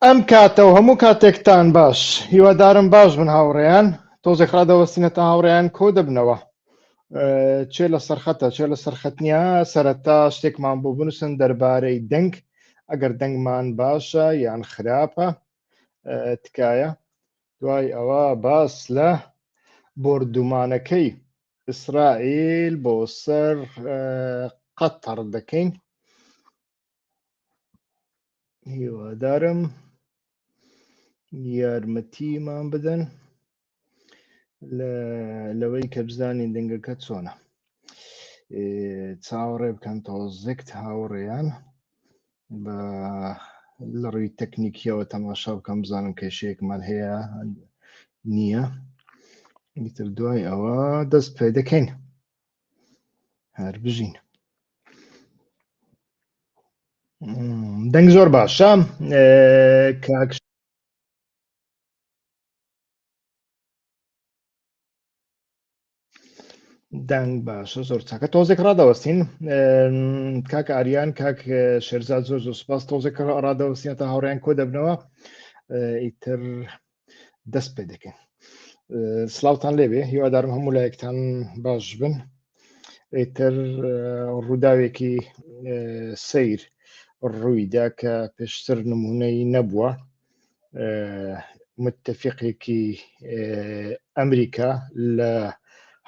ئەم کاتە و هەموو کاتێکتان باش هیوادارم باش بن هاوڕێیان تۆزێک ڕادەوەستینەتە هاوڕێیان کۆ دەبنەوە چێ لە سەرخەتە چێ لە سەرخەتنیا سەرەتا شتێکمان بۆ بنووسن دەربارەی دەنگ ئەگەر دەنگمان باشە یان خراپە تکایە دوای ئەوە باس لە بردومانەکەی ئیسرائیل بۆ سەر قەتەڕ دەکەین هیوادارم یارمەتیمان بدەن لەوەی کە بزانین دەنگەکە چۆنە چاوەڕێ بکەن تۆزێکت هاوڕێیان بە لە ڕووی تەکنیکیەوە تەماشا بکەم بزانم کێشەیەکمان هەیە نییە ئیتر دوای ئەوە دەست پێ دەکەین هەر بژین دەنگ زۆر باشە کاک دەنگ باشە زۆر چاکە تۆزێک ڕادەوەستین کاک ئاریان کاک شێرزاد زۆر زۆر سپاس تۆزێک ڕادەوەستین تا هاوڕیان کۆ دەبنەوە ئیتر دەست پێ دەکەین سلااوان لێبێ هیوادارم هەموو لایەکتان باش بن ئیتر ڕووداوێکی سیر ڕوویدا کە پێشتر نمونەی نەبووە متفقێکی ئەمریکا لە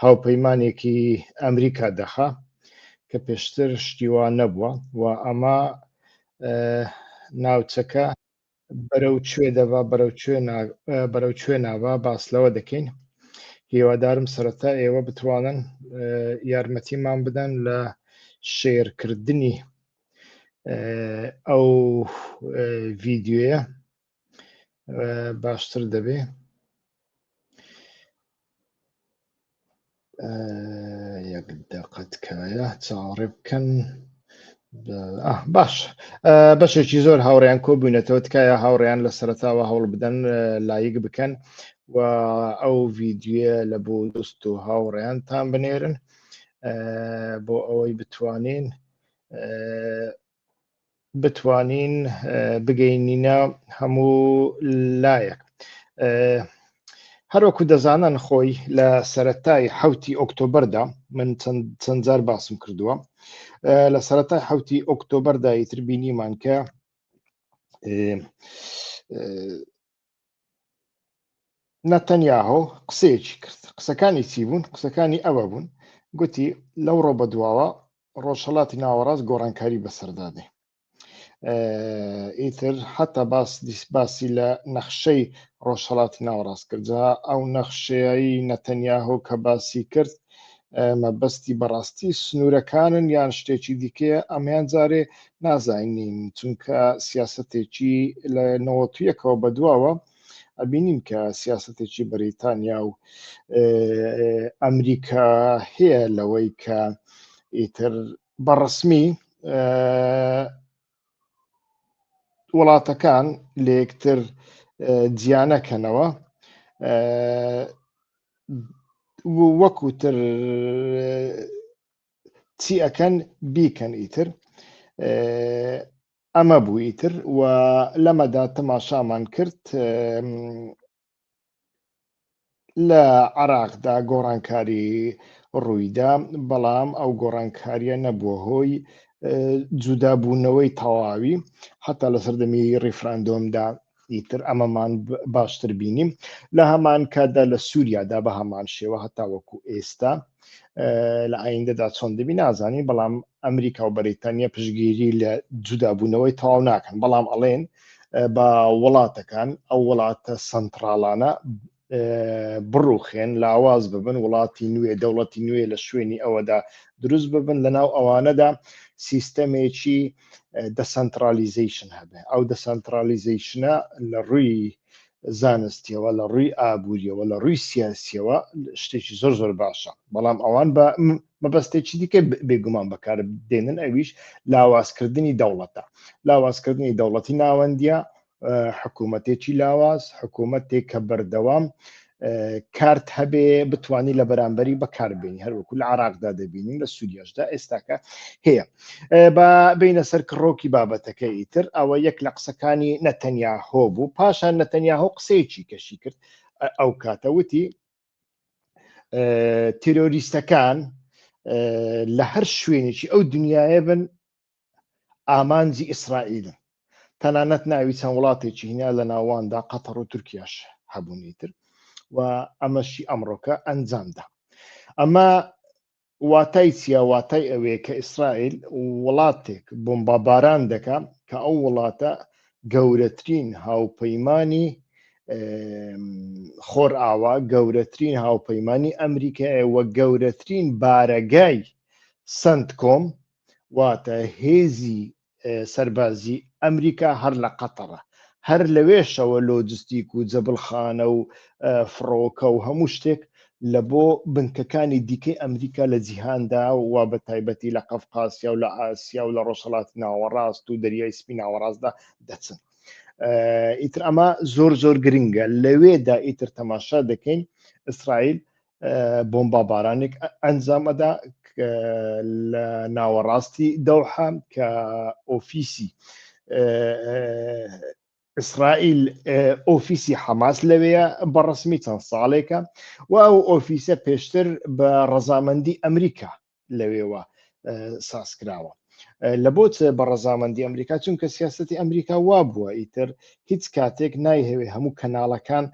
هاوپەیمانێکی ئەمریکا دەخا کە پێشتر شتیوا نەبووە و ئەمە ناوچەکە بەرەو کوێ دەبا بەرەو کوێ بەرەو کوێ ناوا باس لەوە دەکەین هیوادارم سەرەتا ئێوە بتوانن یارمەتیمان بدەن لە شێرکردنی ئەو ڤیددیوە باشتر دەبێ یەک دەقەتکایە چاوەڕێ بکەن باش بەشێکی زۆر هاوڕیان کۆ بووینەتەوە تکایە هاوڕیان لە سەرتاوە هەوڵ بدەن لایک بکەن و ئەو ڤیددیوە لە بۆ دۆست و هاوڕیانتان بنێرن بۆ ئەوەی بتوانین بتوانین بگەینینە هەموو لایەک. هەروەکو دەزانن خۆی لە سەتای حوتی ئۆکتۆبەردا من چەند جار باسم کردووە لە سەتای حوتی ئۆکتۆبەردا ئیتر بینیمان کە نەتەنیاهۆ قسەیەکی کرد قسەکانی چی بوون قسەکانی ئەوە بوون گوتی لەو ڕۆ بە دواوە ڕۆژهڵاتی ناوەڕاست گۆڕانکاری بەسەردادێ ئیتر حتا باس دیسباسی لە نەخشەی ڕۆژهڵاتی ناوەڕاست کرد جا ئەو نەخشەیایی نەتەنیاهۆ کە باسی کرد مەبەستی بەڕاستی سنوورەکانن یان شتێکی دیکەیە ئەمیان جارێ نازانین چونکە سیاستێکی لە نەوەتویەکەوە بەدواوە ئەبینین کە سیاستێکی بەریتانیا و ئەمریکا هەیە لەوەی کە ئیتر بەڕسمی وڵاتەکان لە یەکتر جیانەکەنەوە وەکوتر چی ئەەکەن بیکەن ئیتر ئەمە بوو ئیتر و لەمەدا تەماشامان کرد لە عێراقدا گۆڕانکاری ڕوویدا، بەڵام ئەو گۆڕانکاریە نەبووە هۆی جودابوونەوەی تەواوی حتا لە سەردەمی ڕیفراندۆمدا ئیتر ئەمەمان باشتر بینیم لە هەمان کاتدا لە سووریادا بە هەمان شێوە هەتا وەکو ئێستا لە ئایندەدا چۆن دەبی نازانی بەڵام ئەمریکا و بەریتانیا پشگیری لە جودابوونەوەی تەواو ناکەن بەڵام ئەڵێن بە وڵاتەکان ئەو وڵاتە سنتراڵانە بڕوخێن لاواز ببن وڵاتی نوێ دەوڵەتی نوێ لە شوێنی ئەوەدا دروست ببن لەناو ئەوانەدا سیستەمێکی دەسەنترالیزیشن هەبێ ئەو دەسەنترالیزیشنە لە ڕووی زانستیەوە لە ڕووی ئابووریەوە لە ڕووی سیاسیەوە شتێکی زۆر زۆر باشە بەڵام ئەوان بە مەبەستێکی دیکە بێگومان بەکار دێنن ئەویش لاوازکردنی دەوڵەتە لاوازکردنی دەوڵەتی ناوەندیە حکوومەتێکی لاواز حکوومەتێک کە بەردەوام کارت هەبێ بتانی لە بەرامبەری بەکاربیێنی هەروەکو لە عراقدا دەبینین لە سوودیاشدا ئێستاکە هەیە بە بینە سەر کڕۆکی بابەتەکە ئیتر ئەوە یەک لە قسەکانی نەتەنیا هۆ بوو پاشان نەتەنیا هۆ قسەیەکی کەشی کرد ئەو کاتەوتی تیرۆریستەکان لە هەر شوێنێکی ئەو دنیاە بن ئامانجی ئیسرائیلن تەنانەت ناوی چەند وڵاتێکی هینیا لە ناواندا قەتەڕ و تورکیاش هەبوونی تر و ئەمەشی ئەمڕۆکە ئەنجامدا ئەمە واتای چیە واتای ئەوەیە کە ئیسرائیل وڵاتێک بۆمباباران دەکا کە ئەو وڵاتە گەورەترین هاوپەیمانی خۆر ئاوا گەورەترین هاوپەیمانی ئەمریکایە وە گەورەترین بارەگای سنت کۆم واتە هێزی سەربازی ئەمریکا هەر لە قەتەڕە هەر لەوێشەوە لۆجستیک و جەبلخانە و فڕۆکە و هەموو شتێک لە بۆ بنکەکانی دیکەی ئەمریکا لە جیهاندا و بە تایبەتی لە قەفقاسیا و لە ئاسیا و لە ڕۆژهڵات ناوەڕاست و دەریای سپی ناوەڕاستدا دەچن ئیتر ئەمە زۆر زۆر گرنگە لەوێدا ئیتر تەماشا دەکەین ئیسرائیل بۆمبابارانێک ئەنجام ئەدا لە ناوەڕاستی دەوحە کە ئۆفیسی ئیسرائیل ئۆفیسی حەماس لەوەیە بەڕسمی چەند ساڵێکە و ئەو ئۆفیسە پێشتر بە ڕەزامەندی ئەمریکا لەوێوە سازکراوە لە بۆت بە ڕەزامەندی ئەمریکا چونکە سیاستی ئەمریکا وا بووە ئیتر هیچ کاتێک نایهەوێ هەموو کەناڵەکان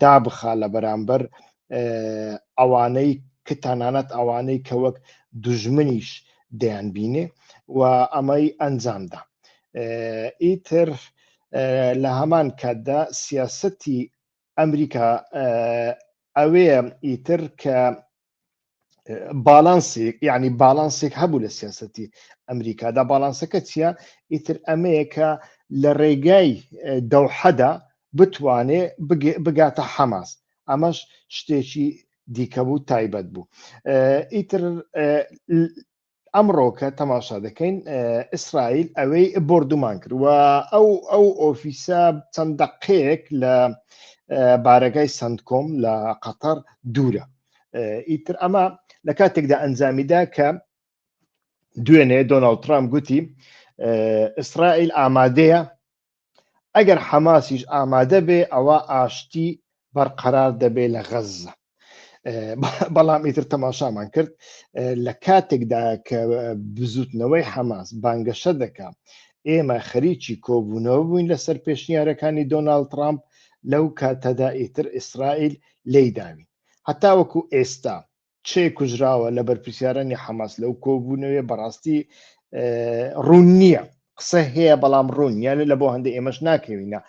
دابخا لە بەرامبەر ئەوانەی کە تەنانەت ئەوانەی کە وەک دژمنیش دەیان بینێ و ئەمەی ئەنجامدا ئیتر لە هەمان کاتدا سیاستی ئەمریکا ئەوەیە ئیتر کە باڵانسێک یعنی باڵانسێک هەبوو لە سیاستی ئەمریکادا باڵانسەکە چییە ئیتر ئەمەیەکە لە ڕێگای دەوحەدا بتوانێ بگاتە حەماس ئەمەش شتێکی دیکە بوو تایبەت بوو ئیتر ئەمڕۆکە تەماشا دەکەین ئیسرائیل ئەوەی بردومان کرد و ئەو ئەو ئۆفیسە چەند دەقەیەک لە بارەگای سندکۆم لە قەتەر دوورە ئیتر ئەمە لە کاتێکدا ئەنجامیدا کە دوێنێ دۆناالد ترامپ گوتی ئیسرائیل ئامادەیە ئەگەر حەماسیش ئامادە بێ ئەوە ئاشتی بەرقەرار دەبێ لە غەززە بەڵام ئیتر تەماشامان کرد لە کاتێکدا کە بزوتنەوەی حەماس بانگەشە دەکە ئێمە خەریکی کۆبوونەوە بووین لەسەر پێشنیارەکانی دۆناالد ترامپ لەو کاتەدا ئیتر ئیسرائیل لی داوین هەتاوەکو ئێستا چێ کوژراوە لە بەرپسیارانی حەماس لەو کۆبوونەوەێ بەڕاستی ڕوون نییە قسە هەیە بەڵام ڕوون یانە لە بۆ هەندە ئێمەش ناکەوینە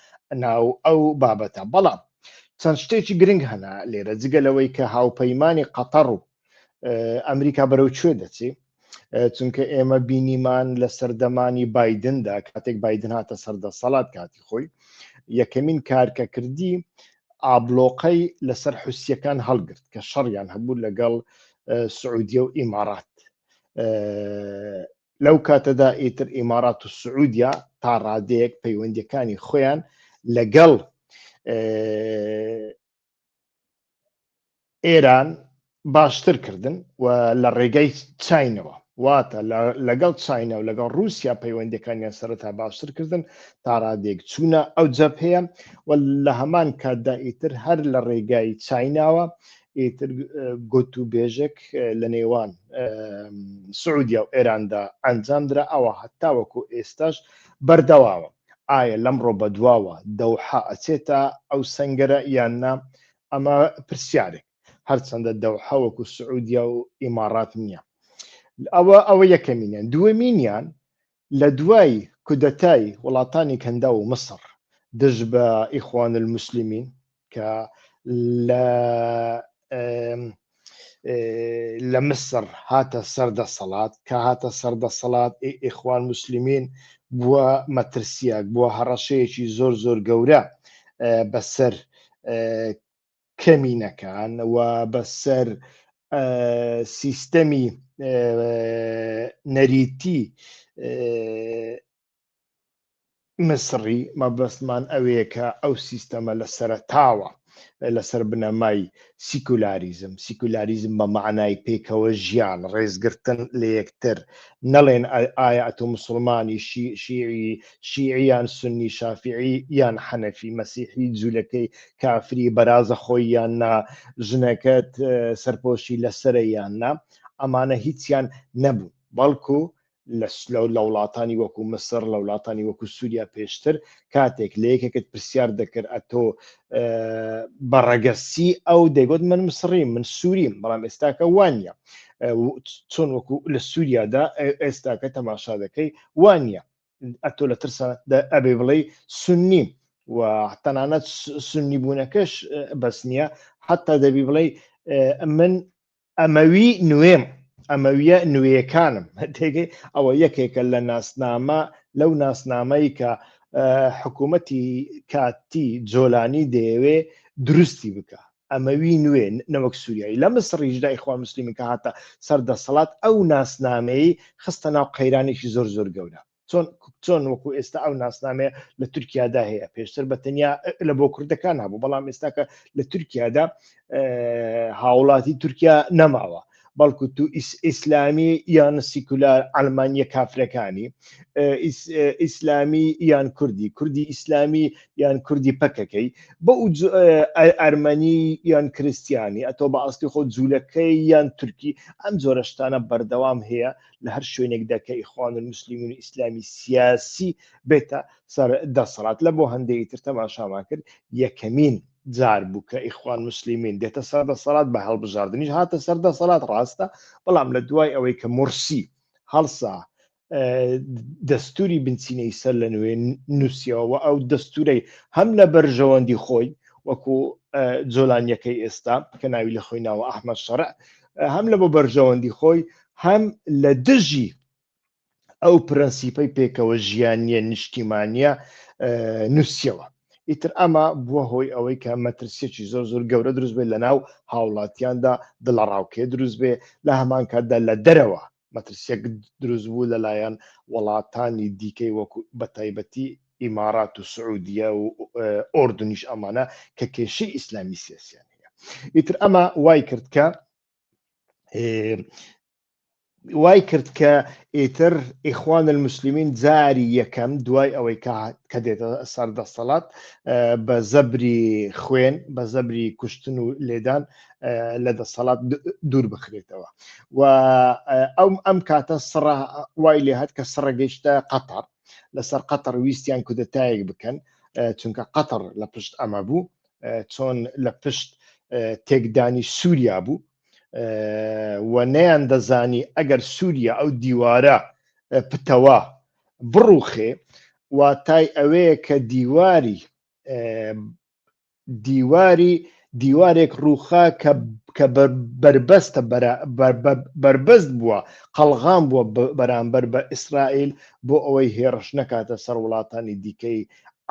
ناو ئەو بابەتە بەڵام چەند شتێکی گرنگ هەنا لێرە جگە لەوەی کە هاوپەیمانانی قەتەڕ و ئەمریکا بەرەو کوێ دەچێت چونکە ئێمە بینیمان لە سەردەمانی بادندا کاتێک بادن هاتە سەردە سەڵات کاتی خۆی یەکەمین کارکە کردی ئابلۆقەی لەسەر حوسیەکان هەڵگرت کە شەڕیان هەبوو لەگەڵ سعودیە و ئیمارات لەو کاتەدا ئیتر ئیمارات و سعودیا تا ڕادەیەک پەیوەندەکانی خۆیان لەگەڵ ئێران باشتر کردن و لە ڕێگای چینەوە واتە لەگەڵ چینە و لەگەڵ رووسیا پەیوەندەکانیان سەرەتا باشتر کردن تاڕادێک چوونە ئەو جەپ هەیە و لە هەمان کاتدا ئیتر هەر لە ڕێگای چیناوە ئیتر گوت و بێژێک لە نێوان سعودیا و ئێراندا ئەنجام درا ئەوە هەتاوەکو ئێستاش بەردەواوە ئایا لەمڕۆ بەدواوە دەوحە ئەچێتە ئەو سەنگەرە یان نا ئەمە پرسیارێک هەرچەندە دەوحە وەکو سعودیە و ئیماڕات نییە ئەوە ئەوە یەکەمینیان دووەمینیان لە دوای کودەتای وڵاتانی کەندا و مسڕ دژ بە ئیخوان المسلمین کە لە لە مسر هاتە سەر دەسەڵات کە هاتە سەر دەسەڵات ئیخوان مسللمین بووە مەترسیاک بووە هەڕەشەیەکی زۆر زۆر گەورە بەسەر کەمینەکان و بەسەر سیستەمی نەریتی میسڕی مەبەستمان ئەوەیە کە ئەو سیستەمە لە سەرەتاوە لەسەر بنەمای سیکولاریزم سیکولاریزم بە معنای پێکەوە ژیان ڕێزگرتن لە یەکتر نەڵێن ئایا ئەتۆ مسلمانی شیعی شیعیان سنی شافعی یان حەنەفی مەسیحی جوولەکەی کافری بەرازە خۆی یان نا ژنەکەت سەرپۆشی لەسرە یان نا ئەمانە هیچیان نەبوو بەڵکو لە وڵاتانی وەکو مسر لە وڵاتانی وەکو سووریا پێشتر کاتێک لە یەکێکت پرسیار دەکرد ئەتۆ بە ڕەگەسی ئەو دەگوت من مسڕی من سووریم بەڵام ئێستاکە وانە چۆن وەکو لە سووریادا ئێستاکە تەماشا دەکەی وانە ئەتۆ لە ترسە ئەبێ بڵێ سنی و تەنانەت سنی بوونەکەش بەس نییە حتا دەبی بڵێ من ئەمەوی نوێم ئەمەویە نوێیەکانم تێگەی ئەوە یەکێکە لە ناسنامە لەو ناسنامەی کە حکوومەتی کاتی جۆلانی دەیەوێ دروستی بکە ئەمەوی نوێ نەوەک سووریایی لە مسڕیشدا ئیخوان مسللیمی کە هاتە سەر دەسەڵات ئەو ناسنامەی خستە ناو قەیرانێکی زۆر زۆر گەورە چۆن چۆن وەکو ئێستا ئەو ناسنامەیە لە تورکیادا هەیە پێشتر بە تەنیا لە بۆ کوردەکان هەبوو بەڵام ئێستاکە لە تورکیادا هاوڵاتی تورکیا نەماوە بەڵکو تو ئیسلامی یان سیکولار ئەلمانیە کافرەکانی ئیسلامی یان کوردی کوردی ئیسلامی یان کوردی پەکەکەی بە ئەرمەنی یان کریسیانی ئەتۆ بە ئاستی خۆ جوولەکەی یان تورکی ئەم جۆرەشتانە بەردەوام هەیە لە هەر شوێنێکدا کە ئیخوان المسلمین و ئیسلامی سیاسی بێتە سەر دەسەڵات لە بۆ هەندێکی تر تەماشامان کرد یەکەمین جار بوو کە ئیخوان مسلمین دێتە سەر دەسەڵات بە هەڵبژاردنیش هاتە سەر دەسەڵات ڕاستە بەڵام لە دوای ئەوەی کە مرسی هەڵسا دەستوری بنچینەی سەر لە نوێ نووسەوە ئەو دەستورەی هەم لە بەرژەوەندی خۆی وەکو جۆلانیەکەی ئێستا کە ناوی لە خۆی ناوە ئەحمە شەرع هەم لە بۆ بەرژەوەندی خۆی هەم لە دژی ئەو پرەنسیپەی پێکەوە ژیانە نیشتیمانە نووسەوە ئیتر ئەمە بووە هۆی ئەوەی کە مەترسیەکی زۆر زۆر گەورە دروست بێت لە ناو هاوڵاتیاندا دڵەڕاوکێ دروست بێ لە هەمان کاتدا لە دەرەوە مەترسیەک دروست بوو لەلایەن وڵاتانی دیکەی وەکو بە تایبەتی ئیمارات و سعودیە و ئۆردنیش ئەمانە کە کێشەی ئیسلامی سیاسیان هەیە ئیتر ئەمە وای کرد کە وای کرد کە ئیتر ئیخوان المسلمین جاری یەکەم دوای ئەوەی کە دێتە سەر دەسەڵات بە زەبری خوێن بە زەبری کوشتن و لێدان لە دەسەڵات دوور بخرێتەوە و ئەم ئەم کاتە سڕ وای لێ هەت کە سڕە گەشتە قەتەر لەسەر قەتەر ویستیان کودەتایەک بکەن چونکە قەتەر لە پشت ئەمە بوو چۆن لە پشت تێکدانی سووریا بوو و نەیان دەزانی ئەگەر سووریا ئەو دیوارە پتەوە بڕوخێ واتای ئەوەیە کە دیواری دیواری دیوارێک ڕووخا کە بەربەستە بەربەست بووە قەلغام بووە بەرامبەر بە ئیسرائیل بۆ ئەوەی هێڕش نەکاتە سەر وڵاتانی دیکەی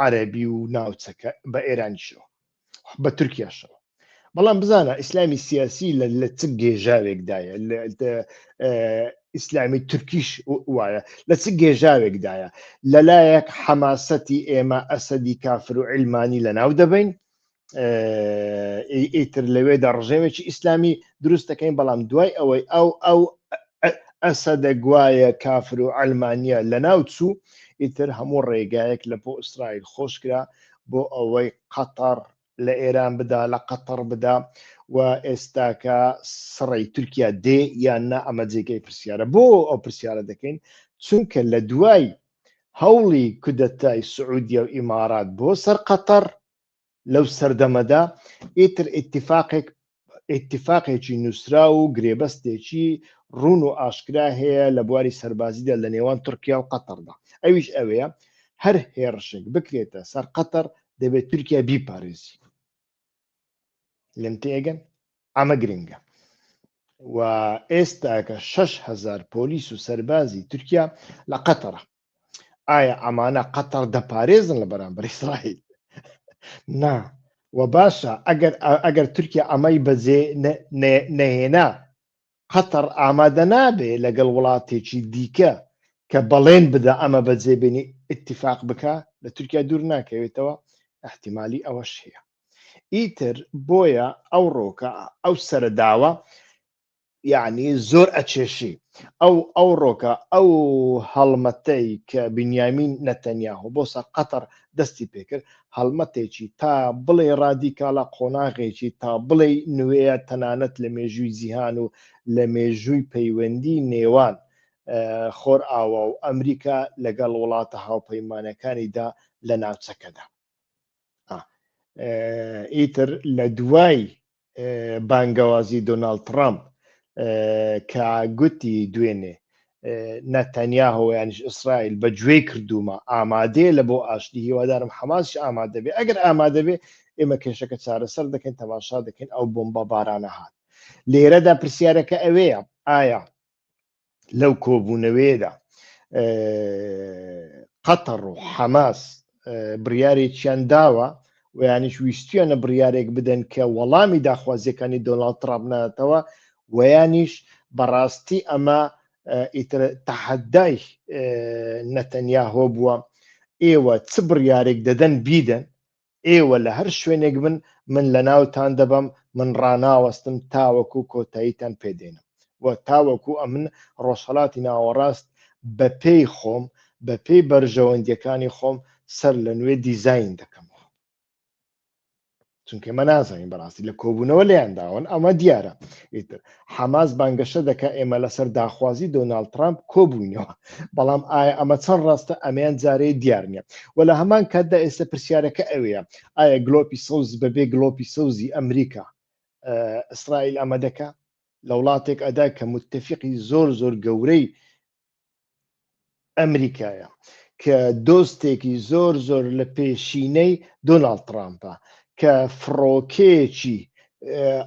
عەربی و ناوچەکە بە ئێرانیشەوە بە تورکیاشەوە بەڵام بزانە ئیسلامی سیاسی لە لە چ گێژاوێکدایە ئیسلامی تورکیش وایە لە چ گێژاوێکدایە لەلایەک حەماسەتی ئێمە ئەسەدی کافر و علمانی لە ناو دەبین ئیتر لەوێدا ڕژێمێکی ئیسلامی دروست دەکەین بەڵام دوای ئەوەی ئەو ئەو ئەسە دەگوایە کافر و ئەلمانیا لە ناو چوو ئیتر هەموو ڕێگایەک لە بۆ ئیسرائیل خۆشکرا بۆ ئەوەی قەتەر لە ئێران بدا لە قەتەڕ بدا و ئێستاکە سڕی تورکیا دێ یان نا ئەمە جێگەی پرسیارە بۆ ئەو پرسیارە دەکەین چونکە لە دوای هەوڵی کودەتای سعودیە و ئیمارات بۆ سەر قەتەر لەو سەردەمەدا ئیتر ئیتفاقێک ئیتیفاقێکی نووسراو و گرێبەستێکی ڕون و ئاشکرا هەیە لە بواری سەربازیدا لە نێوان تورکیا و قەتەردا ئەویش ئەوەیە هەر هێڕشێک بکرێتە سەر قەتەر دەبێت تورکیا بیپارێزی لەم تێگەن ئەمە گرنگە و ئێستاکە 6هزار پۆلیس و سەربازی تورکیا لە قەتەرە ئایا ئەمانە قەتەر دەپارێزن لە بەرامبەر ئیسرائیل نا و باشە ئەگەر ئەگەر تورکیا ئەمەی بەجێ نەهێنا قەتەر ئامادە نابێ لەگەڵ وڵاتێکی دیکە کە بەڵێن بدا ئەمە بەجێبێنی اتفاق بکە لە تورکیا دوور ناکەوێتەوە احتیممالی ئەوەش هەیە ئیتر بۆیە ئەو ڕۆکە ئەو سەرداوە یعنی زۆر ئەچێشی ئەو ئەو ڕۆکە ئەو هەڵمەتەی کە بنیامین نەتەنیاهۆ بۆ سەر قەتەر دەستی پێکرد هەڵمەتێکی تا بڵێ ڕادیکاڵە قۆناغێکی تا بڵێ نوێە تەنانەت لە مێژووی جیهان و لە مێژووی پەیوەندی نێوان خۆر ئاوا و ئەمریکا لەگەڵ وڵاتە هاوپەیمانەکانیدا لە ناوچەکەدا ئیتر لە دوای بانگەوازی دۆناڵد تڕامپ کە گوتی دوێنێ نەتەنیاهۆ یانش ئیسرائیل بە گوێ کردومە ئامادەیە لە بۆ ئاشتی هیوادارم حەماسش ئامادە بێ ئەگەر ئامادە بێ ئێمە کێشەکە چارەسەر دەکەین تەماشا دەکەین ئەو بۆمبە بارانە هات لێرەدا پرسیارەکە ئەوەیە ئایا لەو کۆبوونەوەیەدا قەتەڕ و حەماس بڕارێکیان داوە و یانیش ویستویانە بڕارێک بدەن کە وەڵامی داخوازیەکانی دۆناالد ترابناتەوە و یانیش بەڕاستی ئەمە ئیتر تەحەدای نەتەنیاهۆ بووە ئێوە چ بڕارێک دەدەن بیدەن ئێوە لە هەر شوێنێک بن من لە ناوتان دەبەم من ڕناوەستم تاوەکو کۆتاییتان پێدێنم و تاوەکو ئەمن ڕۆژهڵاتی ناوەڕاست بە پێی خۆم بە پێی بەرژەوەندیەکانی خۆم سەر لە نوێ دیزین دەکەم چونکە مە نازانین بەڕاستی لە کۆبوونەوە لەیانداون ئەمە دیارە ئیتر حەماس بانگەشە دەکات ئێمە لەسەر داخوازی دۆناڵد ترامپ کۆبووینەوە بەڵام ئایا ئەمە چەند ڕاستە ئەمەیان جارەیە دیار نییە و لە هەمان کاتدا ئێستا پرسیارەکە ئەوەیە ئایا گلۆپی سەوز بەبێ گلۆپی سەوزی ئەمریکا ئیسرائیل ئەمە دەکا لە وڵاتێک ئەدا کە متتەفقی زۆر زۆر گەورەی ئەمریکایە کە دۆستێکی زۆر زۆر لە پێشینەی دۆناالد ترامپە کە فڕۆکەیەکی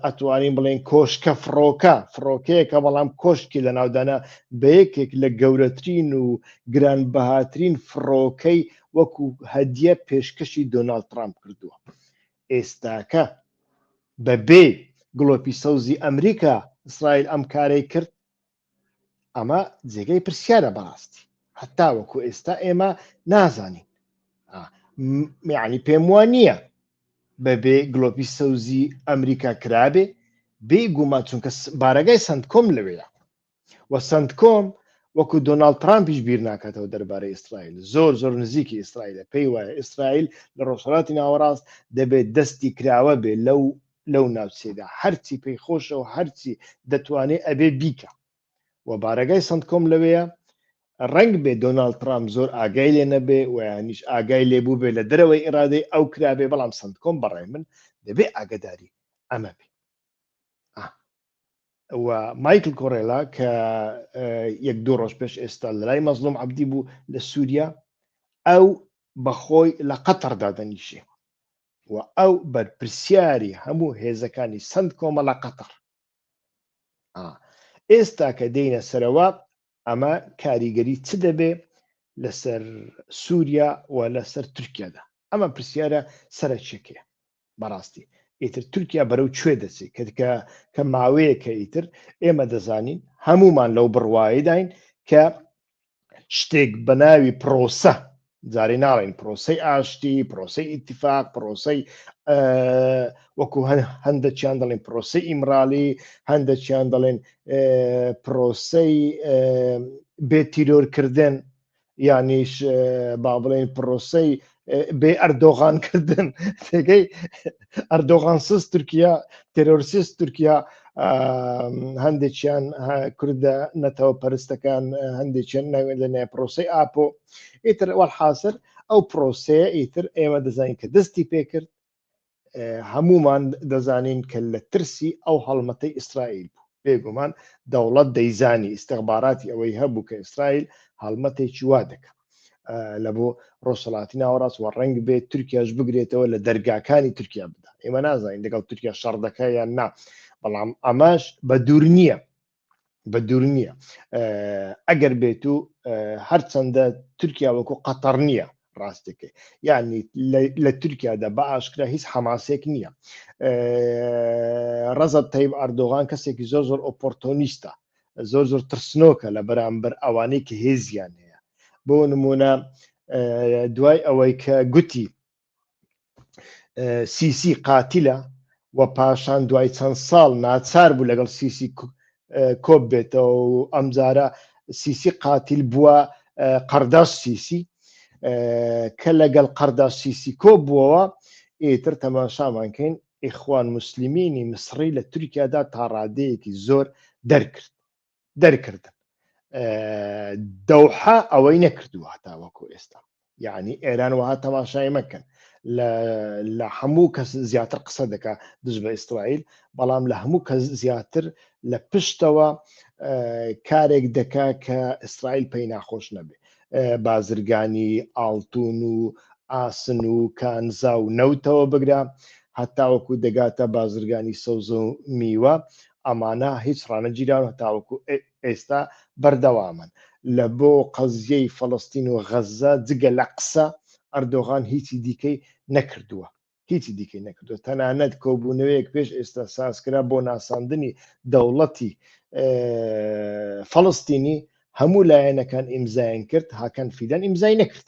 ئەتوانین بڵێن کۆشکە فڕۆکە فڕۆکەیەکە بەڵام کۆشکی لە ناودانا بە یەکێک لە گەورەترین و گران بەهاترین فڕۆکەی وەکو هەدیە پێشکەشی دۆناالد ترامپ کردووە ئێستاکە بەبێ گڵۆپی سەوزی ئەمریکا ئیسرائیل ئەم کارەی کرد ئەمە جێگەی پرسیارە بەڕاستی هەتا وەکو ئێستا ئێمە نازانین میانی پێم وان نییە بەبێ گلۆپی سەوزی ئەمریکا کرابێ بێ گومان چونکە بارەگای سند کۆم لەوەیە و سند کۆم وەکو دۆناالد ترامپیش بیر ناکاتەوە دەربارەی ئیسرائیل زۆر زۆر نزیکی ئیسرائیلە پێی وایە ئیسرائیل لە ڕۆژهڵاتی ناوەڕاست دەبێت دەستی کراوە بێ لەو لەو ناوچەیدا هەرچی پێی خۆشە و هەرچی دەتوانێت ئەبێ بیکە و بارەگای سند کۆم لەوەیە ڕنگ بێ دۆناالد ترام زۆر ئاگای لێ نەبێ ویانیش ئاگای لێ بوو بێ لە دەرەوەی ئێرادەی ئەو کرابێ بەڵام سند کۆم بەڕێ من دەبێ ئاگداری ئەمە بێ مایکل کۆرێلا کە یەک دوو ڕۆژ پێش ئێستا لەلای مەزلوم عبدی بوو لە سووریا ئەو بەخۆی لە قەتەردا دەنیشێ و ئەو بەرپرسیاری هەموو هێزەکانی سند کۆمەڵە قەتەڕ ئێستا کە دێنە سەرەوە ئەمە کاریگەری چ دەبێ لەسەر سووریا و لەسەر تورکیادا ئەمە پرسیارە سەرچەکێ بەڕاستی ئیتر تورکیا بەرەو کوێ دەچێت کەکە کە ماوەیەکە ئیتر ئێمە دەزانین هەمومان لەو بڕواایداین کە شتێک بە ناوی پرۆسە جارێ ناڵێن پرۆسی ئاشتی پرۆسی ئیتفاق پرۆسی وەکو هەندەچیان دەڵێن پرۆسی ئیمرالی هەندەچیان دەڵێن پرۆسی بێ تیرۆرکردن یانیش با بڵێن پرۆسی بێ ئەردۆغان کردن تێگەی ئەردۆغانسز تورکیا تێرۆرسیست تورکیا هەندێکیان کوردە نەتەوە پەرستەکان هەندێکیان ناوێن لە نای پرۆسی ئاپۆ ئیتر وەحاصر ئەو پرۆسەیە ئیتر ئێمە دەزانین کە دەستی پێکرد هەمومان دەزانین کە لە ترسی ئەو هەڵمەتەی ئیسرائیل بوو بێگومان دەوڵەت دەیزانی ئیسیغباراتی ئەوەی هەبوو کە ئیسرائیل هەڵمەتێکی وا دەکە لە بۆ ڕۆژهڵاتی ناوەڕاست وە ڕنگ بێت تورکیاش بگرێتەوە لە دەرگاکانی تورکیا بدا ئێمە نازانین دەگەڵ تورکیا شەڕ دەکە یان نا بەڵام ئەماش بە دوور نییە بە دوور نییە ئەگەر بێت و هەرچەندە تورکیا وەکو قەتەڕ نییە ڕاستەکەی یعنی لە تورکیادا بە ئاشکرا هیچ حەماسێک نییە ڕەزە تەیب ئەردۆغان کەسێکی زۆر زۆر ئۆپۆرتۆنیستە زۆر زۆر ترسنۆکە لە بەرامبەر ئەوانەی کە هێزیان هەیە بۆ نمونە دوای ئەوەی کە گوتی سیسی قاتیلە و پاشان دوای چەند ساڵ ناچار بوو لەگەڵ سیسی کۆپ بێتەوە و ئەمجارە سیسی قاتیل بووە قەرداش سیسی کە لەگەڵ قەرداش سیسی کۆ بووەوە ئیتر تەماشامان کەین ئیخوان مسللیمینی مسڕی لە تورکیادا تاڕادەیەکی زۆر دەرکرد دەرکردن دەوحە ئەوەی نەکردووە هەتا وەکو ئێستا یعنی ئێران وها تەماشای مەکەن لە هەموو کەس زیاتر قسە دەکا دژ بە ئیسرائیل بەڵام لە هەموو کەس زیاتر لە پشتەوە کارێک دەکا کە ئیسرائیل پێی ناخۆش نەبێ بازرگانی ئاڵتون و ئاسن و کانزا و نەوتەوە بگرە هەتاوەکو دەگاتە بازرگانی سەوز و میوە ئەمانە هیچ ڕانەگیراون هەتاوەکو ئێستا بەردەوامن لە بۆ قەزیەی فەڵەستین و غەزە جگە لە قسە ئەردۆغان هیچی دیکەی نەکردووە هیچی دیکەی نەکردووە تەنانەت کۆبوونەوەیەک پێش ئێستا سازکرا بۆ ناساندنی دەوڵەتی فەڵەستینی هەموو لایەنەکان ئیمزایان کرد هاکان فیدان ئیمزای نەکرد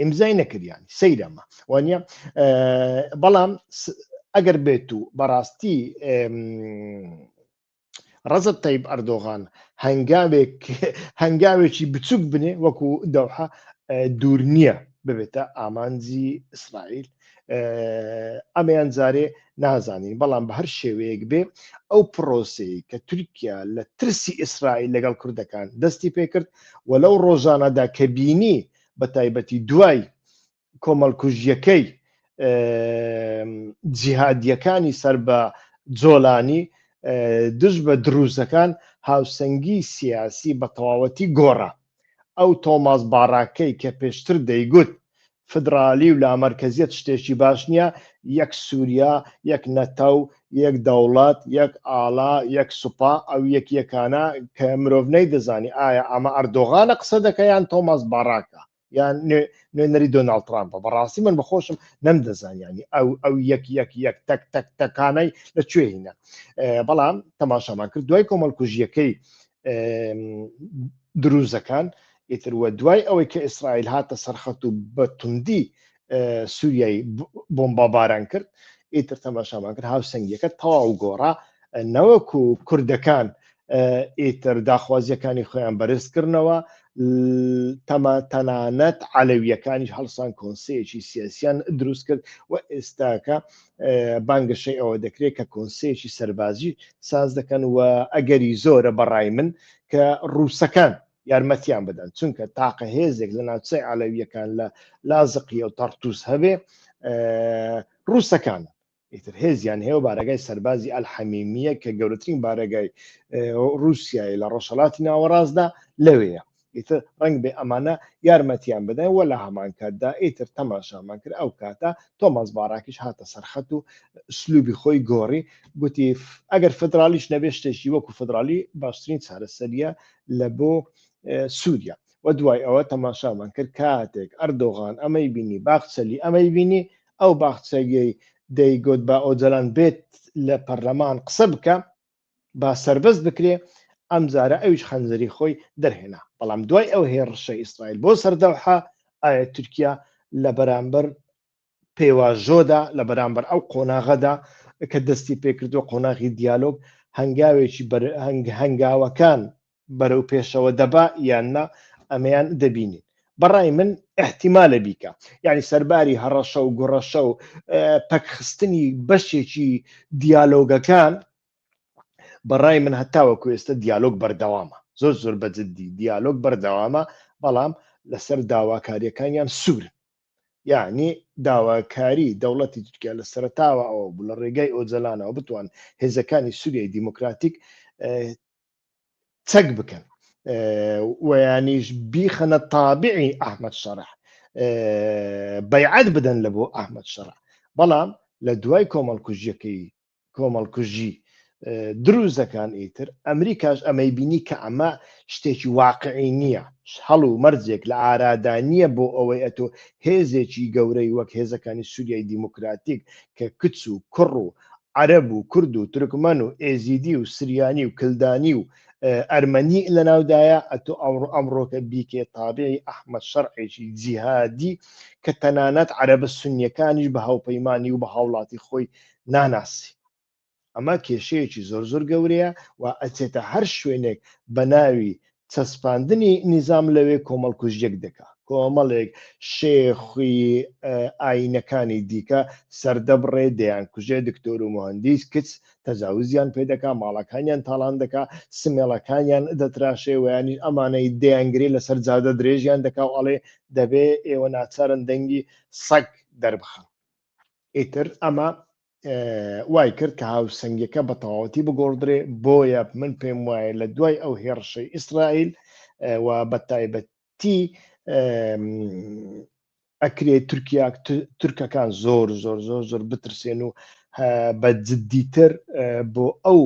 ئیمزای نەکریانی سەیرەمە وانە بەڵام ئەگەر بێت و بەڕاستی ڕزت تەیب ئەردۆغان هەنگاوێک هەنگاوێکی بچووک بنێ وەکو دەوحە دوور نییە ببێتە ئامانجی ئیسرائیل ئەمەیان جارێ نازانین بەڵام بە هەر شێوەیەک بێ ئەو پرۆسی کە تورکیا لە ترسی ئیسرائیل لەگەڵ کوردەکان دەستی پێکرد و لەو ڕۆژانەدا کە بینی بە تایبەتی دوای کۆمەڵکوژیەکەی جیهادیەکانی سەر بە جۆلانی دژ بە دروزەکان هاوسەنگی سیاسی بە تەواوەتی گۆڕە ئەو تۆماس باراکەی کە پێشتر دەیگوت فدرالی و لامەرکەزیەت شتێکی باش نیە، یەک سوریا، یەک نەتەو، یەک دەوڵەت، یەک ئاڵا، یەک سوپا، ئەو یەکیەکانە کە مرۆڤ نەیدەزانی ئایا ئەمە ئەردۆغانە قسە دەکا یان تۆماس باراکە یان نوێنەری دۆناڵد ترامپە، بەڕاستی من بەخۆشم نەمدەزانیانی ئەو ئەو یەک یەک یەک تەک تەک تەکانەی لە کوێ هینە بەڵام تەماشامان کرد دوای کۆمەڵکوژیەکەی دروزەکان ئیتر وە دوای ئەوەی کە ئیسرائیل هاتە سەرخەت و بە توندی سووریای بۆمباباران کرد ئیتر تەماشامان کرد هاوسنگەکە تەواو گۆڕا نەوەکو و کوردەکان ئیتر داخوازیەکانی خۆیان بەرزکردنەوە تەما تەنانەت عەلەویەکانیش هەڵسان کۆنسەیەکی سیاسیان دروست کرد و ئێستاکە بانگەشەی ئەوە دەکرێت کە کۆنسەیەکی سەربازی ساز دەکەن و ئەگەری زۆرە بەڕای من کە ڕووسەکان یارمەتیان بدەن چونکە تاقە هێزێک لە ناوچەی عەلەویەکان لە لازقیە و تەڕتوس هەبێ ڕووسەکانە ئیتر هێزیان هەیە بارەگای سەربازی ئەلحەمیمیە کە گەورەترین بارەگای رووسایی لە ڕۆژهڵاتی ناوەڕاستدا لەوەیە ئیتر ڕنگ بێ ئەمانە یارمەتیان بدەن وە لە هەمانکاتدا ئیتر تەماشامان کرد ئەو کاتە تۆماز باراکیش هاتە سەرخەت و سلوبی خۆی گۆڕی گوتی ئەگەر فدرالیش نەبێ شتێکی وەکو فدرالی باشترین چارەسەریە لە بۆ سووریا و دوای ئەوە تەماشامان کرد کاتێک ئەردۆغان ئەمەی بینی باخچەلی ئەمەی بینی ئەو باخچەگەی دەیگوت بە ئۆجەلان بێت لە پەرلەمان قسە بکە با سربەست بکرێ ئەم جارە ئەوش خەنجەری خۆی دەرهێنا بەڵام دوای ئەو هێڕشە ئیسرائیل بۆ سەردەوحە ئایا تورکیا لە بەرامبەر پێواژۆدا لە بەرامبەر ئەو قۆناغەدا کە دەستی پێکردووە قۆناغی دیالۆگ هەنگاوێکی هەنگاوەکان بەرەو پێشەوە دەبا یان نا ئەمەیان دەبینین بەڕای من احتیمالە بیکە یعنی سەرباری هەڕەشە و گوڕەشە و پەکخستنی بەشێکی دیالۆگەکان بەڕای من هەتاوەکو ئێستا دیالۆگ بەردەوامە زۆر زۆر بەجددی دیالۆگ بەردەوامە بەڵام لەسەر داواکاریەکانیان سوور یانی داواکاری دەوڵەتی تورکیا لە سەرتاوە ئەوە بوو لە ڕێگای ئۆجەلانەوە بتوان هێزەکانی سووریای دیموکراتیک چەک بکەن ویانیش بیخەنە تابعی ئەحمد شەرح بەیعەت بدەن لە بۆ ئەحمد شەرح بەڵام لە دوای کۆمەڵکوژیەکەی کۆمەڵکوژی دروزەکان ئیتر ئەمریکاش ئەمەی بینی کە ئەمە شتێکی واقعی نییە هەڵ و مەرجێک لە ئارادا نییە بۆ ئەوەی ئەتۆ هێزێکی گەورەی وەک هێزەکانی سووریای دیموکراتیک کە کچ و کوڕ و عەرەب و کورد و ترکمەن و ئێزیدی و سریانی و کلدانی و ئەرمەنی لە ناودایە ئەتۆ ئەوڕ ئەمڕۆکە بیکێ تابعی ئەحمد شەرعێکی جیهادی کە تەنانەت عەرەبە سنیەکانیش بە هاوپەیمانانی و بە هاوڵاتی خۆی ناناسی ئەمە کێشەیەکی زۆر زۆر گەورەیە و ئەچێتە هەر شوێنێک بە ناوی چەسپاندنی نیزام لەوێ کۆمەڵ کوژیەک دەکا کۆمەڵێک شێخی ئاینەکانی دیکە سەردەبڕێ دەیان کوژێ دکتۆر و مهندیس کچ تەجاوزیان پێ دەکا ماڵەکانیان تاڵان دەکا سمێڵەکانیان دەتراشێ ویانی ئەمانەی دەیانگرێ لەسەر جادە درێژیان دەکا و ئەڵێ دەبێ ئێوە ناچارن دەنگی سەگ دەربخن ئیتر ئەمە وای کرد کە هاوسەنگەکە بە تەواوەتی بگۆڕدرێ بۆیە من پێم وایە لە دوای ئەو هێڕشەی ئیسرائیل و بە تایبەتی ئەکرێ تورکیا تورکەکان زۆر زۆر زۆر زۆر بترسێن و بە جددیتر بۆ ئەو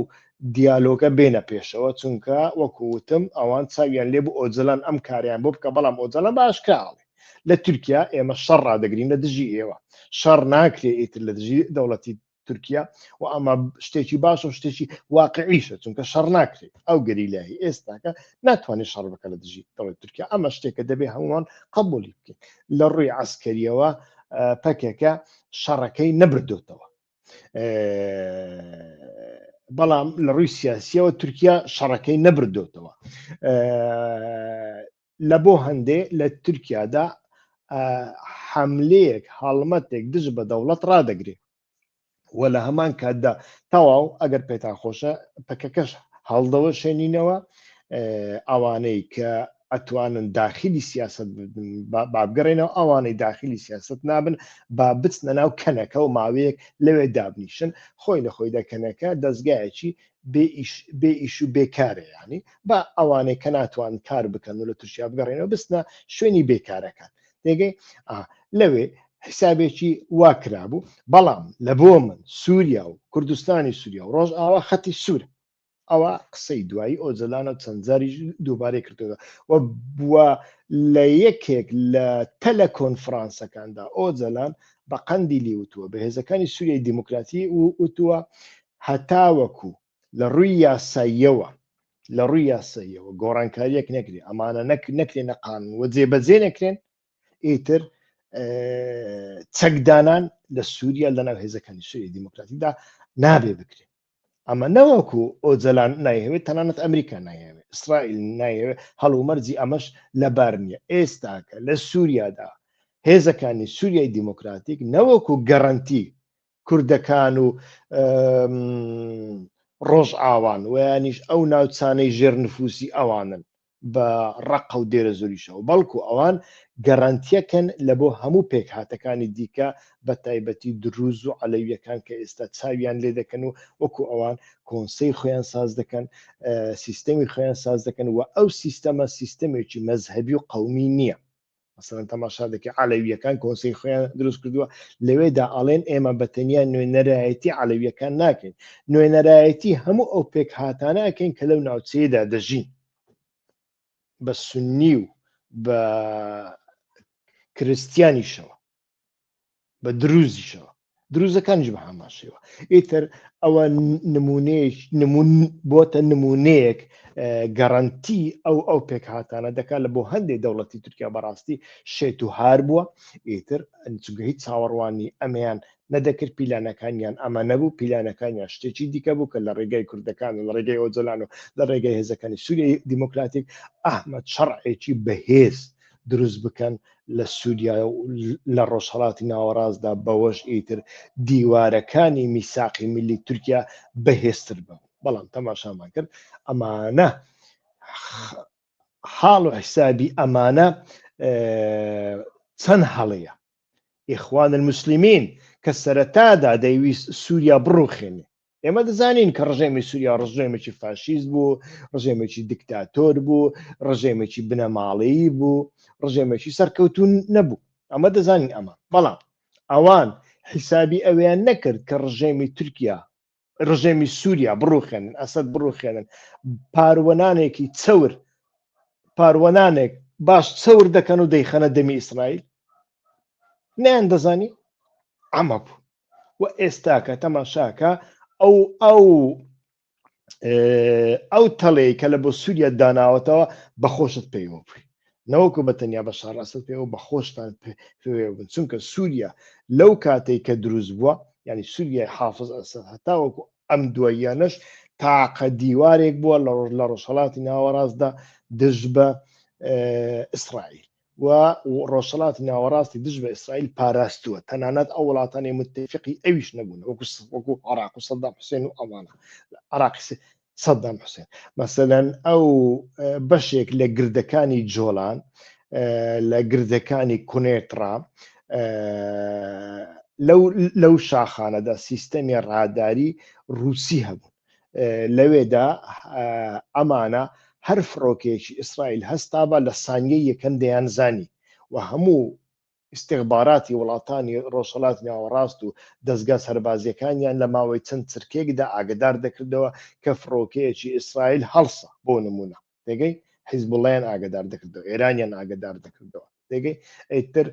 دیالۆگە بێنە پێشەوە چونکە وەکووتم ئەوان چاویان لێ بۆ ئۆجلان ئەم کاریان بۆ بکە بەڵام ئۆجلان باشکراڵێ لە تورکیا ئێمە شەڕ ڕدەگرین لە دژی ئێوە شەڕ ناکرێ ئیتر لە دژی دەوڵەتی تورکیا و ئەمە شتێکی باش و شتێکی واقعیشە چونکە شەڕ ناکرێت ئەو گەریلایی ئێستاکە ناتوانێت شەڕ بکە لە دژی دەڵێت تورکیا ئەمە شتێکە دەبێ هەمووان قبولی بکەین لە ڕووی عسکەریەوە پەکەکە شەڕەکەی نەبردوتەوە بەڵام لە ڕووی سیاسیەوە تورکیا شەڕەکەی نەبردوتەوە لە بۆ هەندێ لە تورکیادا حملەیەک هەڵمەتێک دژ بە دەوڵەت ڕدەگرێ و لە هەمان کاتدا تەواو ئەگەر پێتان خۆشە پەکەکەش هەڵدەوە شێنینەوە ئەوانەی کە ئەتوانن داخلی سیاست بابگەڕێنەوە ئەوانەی داخلی سیاست نابن با بچنە ناو کەنەکە و ماوەیەک لەوێ دابنیشن خۆی لە خۆیدا کەنەکە دەستگایەکی بێ ئیش بێ ئیش و بێکارێ یانی با ئەوانەی کە ناتوان کار بکەن و لە تورکیا بگەڕێنەوە بستنە شوێنی بێکارەکان دێگەی ئا لەوێ حسابێکی وا کرابوو بەڵام لە بۆ من سووریا و کوردستانی سووریا و ڕۆژ ئاوا خەتی سوورە ئەوە قسەی دوایی ئۆجلانە و چەند جاری دووبارەی کردەوە و بووە لە یەکێک لە تەلە کۆنفرانسەکاندا ئۆجلان بە قەندی لیوتووە بە هێزەکانی سووریای دیموکراتی و وتووە هەتاوەکو لە ڕووی یاساییەوە لە ڕووی یاساییەوە گۆڕانکاریەک نەکرێ ئەمانە نەک نەکرێ نە قانون وە جێبەجێ نەکرێن ئیتر چەکدانان لە سووریا لەناو هێزەکانی سووری دیموکراتیدا نابێ بکرێت ئەمە نەوەکو ئۆجلان نایهوێت تەنانەت ئەمریکا نایەوێت ئیسرائیل نایەوێت هەڵومەرجی ئەمەش لەبار نییە ئێستاکە لە سووریادا هێزەکانی سووریای دیموکراتیک نەوەکو گەڕنتی کوردەکان و ڕۆژئاوان ویانیش ئەو ناوچانەی ژێر نفوسی ئەوانن بە ڕقە و دێرە زۆریشەوە بەڵکو ئەوان گەڕانتیەکەن لە بۆ هەموو پێکهاتەکانی دیکە بە تایبەتی دروز و عەلەویەکان کە ئێستا چاویان لێ دەکەن و وەکو ئەوان کۆنسی خۆیان ساز دەکەن سیستەمی خۆیان ساز دەکەن و ئەو سیستەمە سیستەمێکی مەذهبی و قومی نییە مثلەن تەماشا دەکە عەلەویەکان کۆنسی خۆیان دروست کردووە لەوێدا ئاڵێن ئێمە بە تەنیا نوێنەرایەتی عەلەویەکان ناکەین نوێنەرایەتی هەموو ئەو پێک هاتانەکەین کە لەو ناوچەیەدا دەژین بە سنی و بە کرستیانیشەوە بە دروزیشەوە دروزەکانیش بە هەمان شێوە ئیتر ئەوە نمونەیەک نمون بۆتە نمونەیەک گەڕنتی ئەو ئەو پێکهاتانە دەکات لە بۆ هەندێک دەوڵەتی تورکیا بەڕاستی شێت و هار بووە ئیتر ئەنچگە هیچ چاوەڕوانی ئەمیان نەدەکرد پیلانەکانیان ئەمە نەبوو پیلانەکانیان شتێکی دیکە بوو کە لە ڕێگەی کوردەکان لە ڕێگەی ئۆجلان و لە ڕێگەی هێزەکانی سووری دیموکراتیک ئەحمد شەڕعێکی بەهێز دروست بکەن لە سووریا و لە ڕۆژهەڵاتی ناوەڕاستدا بەوەش ئیتر دیوارەکانی میساقی ملی تورکیا بەهێزتر بن بەڵام تەماشامان کرد ئەمانە حاڵ و حیسابی ئەمانە چەند هەڵەیە ئیخوان المسلمین کە سەرەتادا دەیویست سووریا بڕوخێنێ ئێمە دەزانین کە ڕژێمی سووریا ڕژێمێکی فاشیز بوو ڕژێمێکی دیکتاتۆر بوو ڕژێمێکی بنەماڵەیی بوو ڕژێمێکی سەرکەوتون نەبوو ئەمە دەزانین ئەمە بەڵام ئەوان حیسابی ئەویان نەکرد کە ڕژێمی تورکیا ڕژێمی سووریا بڕوخێنن ئەسد بڕوخێنن پاروەنانێکی چەور پاروەنانێک باش چەور دەکەن و دەیخەنە دەمی ئیسرائیل نیان دەزانی ئەمە بوو و ئێستاکە تەماشاکە ئەو ئەو ئەو تەڵەیە کە لە بۆ سووریا داناوەتەوە بەخۆشت پێیوە بووی نەوەکو بە تەنیا بە شاڕاستت پێ و بە خۆشتان بن چونکە سووریا لەو کاتێک کە دروست بووە ینی سووریای حافظ ئەسەر هەتاوەکو ئەم دواییانەش تاقە دیوارێک بووە لە ڕۆژ لە ڕۆژهڵاتی ناوەڕاستدا دژ بە ئیسرائیل و ڕۆژهەڵاتی ناوەڕاستی دژ بە ئیسرائیل پاراستووە تەنانەت ئەو وڵاتانی متفقی ئەویش نەبوون وەکو وەکو عراق و سەدام حوسێن و ئەوانە عراقی سەدام حوسێن مەسەەن ئەو بەشێک لە گردەکانی جۆلان لە گردەکانی کونێترا لەو شاخانەدا سیستەمی ڕاداری رووسی هەبوون لەوێدا ئەمانە هەر فڕۆکەیەکی ئیسرائیل هەستابا لە سانیە یەکەم دەیان زانی و هەموو استخباراتی وڵاتانی ڕۆژهڵات ناوەڕاست و دەستگا سەربازیەکانیان لە ماوەی چەند چرکێکدا ئاگدار دەکردەوە کە فڕۆکەیەکی ئیسرائیل هەڵسا بۆ نمونە دەگەی حیزبڵیان ئاگدار دەکردەوە ئێرانیان ئاگدار دەکردەوە دەگەی ئەیتر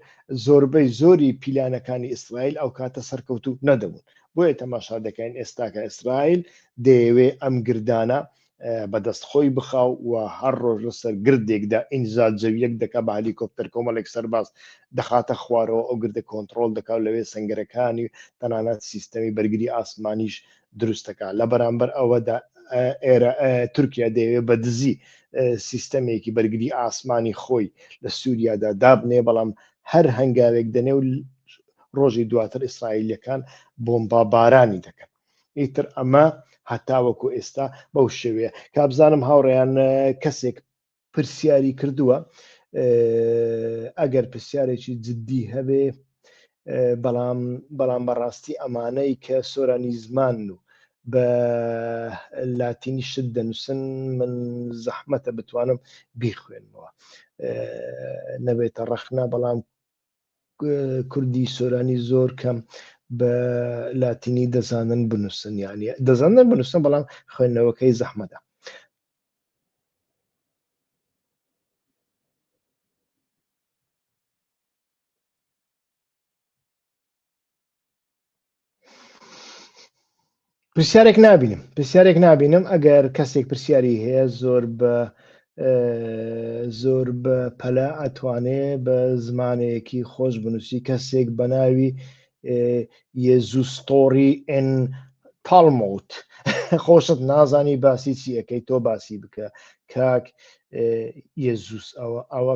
زۆربەی زۆری پیلانەکانی ئیسرائیل ئەو کاتە سەرکەوت و نەدەبوون بۆیە تەماشا دەکەین ئێستاکە ئیسرائیل دەیەوێ ئەم گردانە بەدەست خۆی بخاو و هەر ڕۆژ لەسەر گردێکدا ئینجا جەویەک دەکا بە هەلیکۆپتەر کۆمەڵێک سەرباز دەخاتە خوارەوە ئەو گردە کۆنتترۆل دەکات لەوێ سنگەرەکانی تەنانەت سیستەمی بەرگری ئاسمانیش دروستەکە لە بەرامبەر ئەوەدا ئێرە تورکیا دەیەوێت بە دزی سیستەمێکی بەرگری ئاسمانی خۆی لە سووریادا دابنێ بەڵام هەر هەنگاوێک دەنێ و ڕۆژی دواتر ئیسرائیلەکان بۆمبا بارانی دەکەن ئیتر ئەمە هەتاوەکو ئێستا بەو شێوەیە کابزانم هاوڕێیان کەسێک پرسیاری کردووە ئەگەر پرسیارێکی جددی هەبێ بەڵام بەڵام بەڕاستی ئەمانەی کە سۆرانی زمان و بە لاتینی شت دەنووسن من زەحمەتە بتوانم بیخوێنمەوە نەبێتە ڕەخنا بەڵام کوردی سۆرانی زۆر کەم بە لاتینی دەزانن بنووسن یانە دەزانن بنووسن بەڵام خوێندنەوەکەی زەحمەدا پرسیارێک نبینم پرسیارێک نبینم ئەگەر کەسێک پرسیاری هەیە زۆر بە زۆر بە پەلە ئەتوانێ بە زمانێکی خۆش بنووسی کەسێک بە ناوی یێزوستۆری ئەن تاڵموت خۆشت نازانی باسی چیەکەی تۆ باسی بکە کاک یێزوس ئەوە ئەوە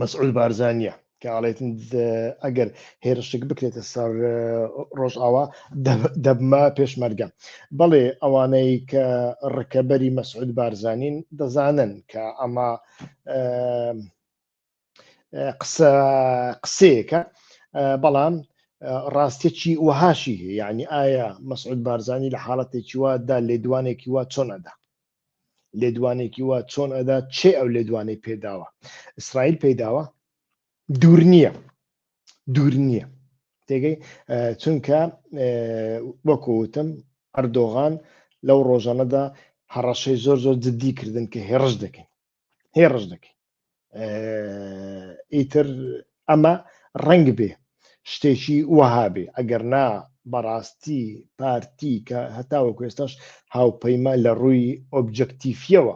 مەسعود بارزانە کە ئاڵێتن ئەگەر هێرشتێک بکرێتە سەر ڕۆژئاوا دەبمە پێشمەرگە بەڵێ ئەوانەی کە ڕکەبەری مەسعود بارزانین دەزانن کە ئەمە قسە قسەیەکە بەڵام ڕاستێکی وەهاشی هەیە یعنی ئایا مەسعود بارزانانی لە حاڵەتێکی وادا لێدوانێکی وا چۆنەدا لێدوانێکی وا چۆن ئەدا چێ ئەو لێدوانەی پێداوە ئیسرائیل پێداوە دوور نییە دوور نییە تێگەی چونکە وەکوتم ئەردۆغان لەو ڕۆژانەدا هەڕەشەی زۆر زۆر جددی کردن کە هێڕش دەکەین هێ ڕژ دەکەین ئیتر ئەمە ڕنگ بێ شتێکی وەهابێ ئەگەر نا بەڕاستی پارتی کە هەتاوە کوێستاش هاوپەیمان لە ڕووی ئۆبجەکتیفیەوە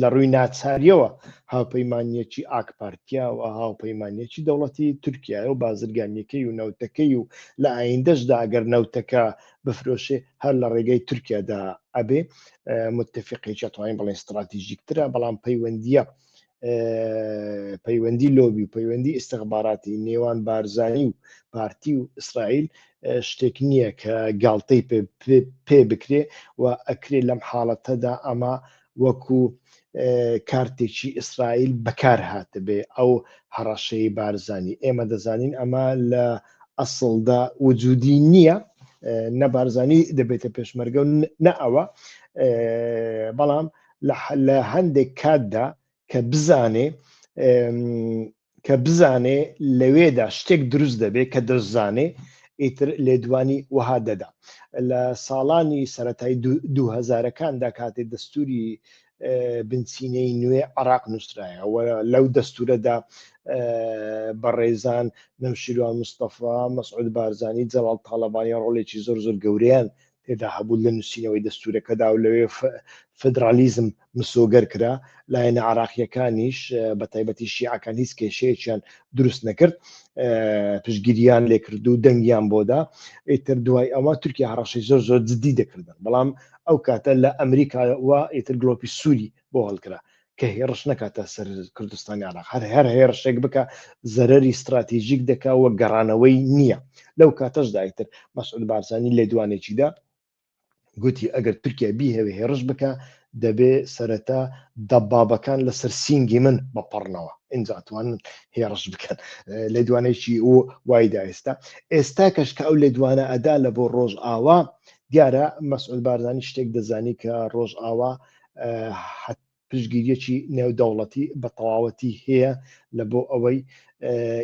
لە ڕووی ناچاریەوە هاوپەیمانیەکی ئاک پارتیاوە هاوپەیمانیەکی دەوڵەتی تورکایە و بازرگانیەکەی و نەوتەکەی و لە ئایندەشدا ئەگەر نەوتەکە بفرۆشێ هەر لە ڕێگەی تورکیادا ئەبێ متفقێکە توانین بڵێن استراتیژیکترە بەڵام پەیوەندیە پەیوەندی لۆبی و پەیوەندی ئستخباراتی نێوان بارزایی و پارتی و ئیسرائیل شتێک نییە کە گاڵتەی پێ بکرێ و ئەکرێ لەم حاڵەتەدا ئەمە وەکو کارتێکی ئیسرائیل بەکار هاتبێ ئەو هەڕەشەی بارزانی ئێمە دەزانین ئەمە لە ئەسڵدا وجودی نییە نە بارزانی دەبێتە پێشمەرگە و نە ئەوە بەڵام لە هەندێک کاتدا کە بزانێ کە بزانێ لەوێدا شتێک دروست دەبێ کە دەشزانێ ئیتر لێدوانی وەها دەدا لە ساڵانی سەتای دوهزارەکاندا کاتێ دەستوری بنچینەی نوێ عراق نووسرایەوە لەو دەستورەدا بەڕێزان نەمشیروان مستەفا مەسعود بارزانانی جەڵال تاالبانی ڕۆڵێکی زۆر زۆر گەوریان تێدا هەبوو لە نووسینەوەی دەستوورەکەدا و لەوێ فیدرالیزم مسۆگەر کرا، لایەنە عێراقییەکانیش بە تایبەتی شیعەکان هیچ کێشەیەکیان دروست نەکرد، پشتگیرییان لێ کرد و دەنگیان بۆ دا، ئیتر دوای ئەوە تورکیا هەڕەشەی زۆر زۆر جددی دەکردن، بەڵام ئەو کاتە لە ئەمریکاوە ئیتر گڵۆپی سووری بۆ هەڵکرا. کە هێڕش نەکاتە سەر کوردستانی عراق هەر هەر هێڕشێک بکە زەرری استراتیژیک دەکا وە گەڕانەوەی نییە لەو کاتەش دایتر مەسعود بارزانانی لە دوانێکیدا گوتی ئەگەر تورکیا بیهەوێ هێڕش بکە دەبێ سەرەتا دەبابەکان لەسەر سینگی من بەپەڕنەوە ئینجاتوان هێڕش بکەن لە دوانێکی و وایدا ئێستا ئێستا کەش کە ئەو لە دوانە ئەدا لە بۆ ڕۆژ ئاوا دیارە مەسعود بارزانانی شتێک دەزانی کە ڕۆژ ئاوا پشگیریەکی نێودەوڵەتی بە تەواوەتی هەیە لە بۆ ئەوەی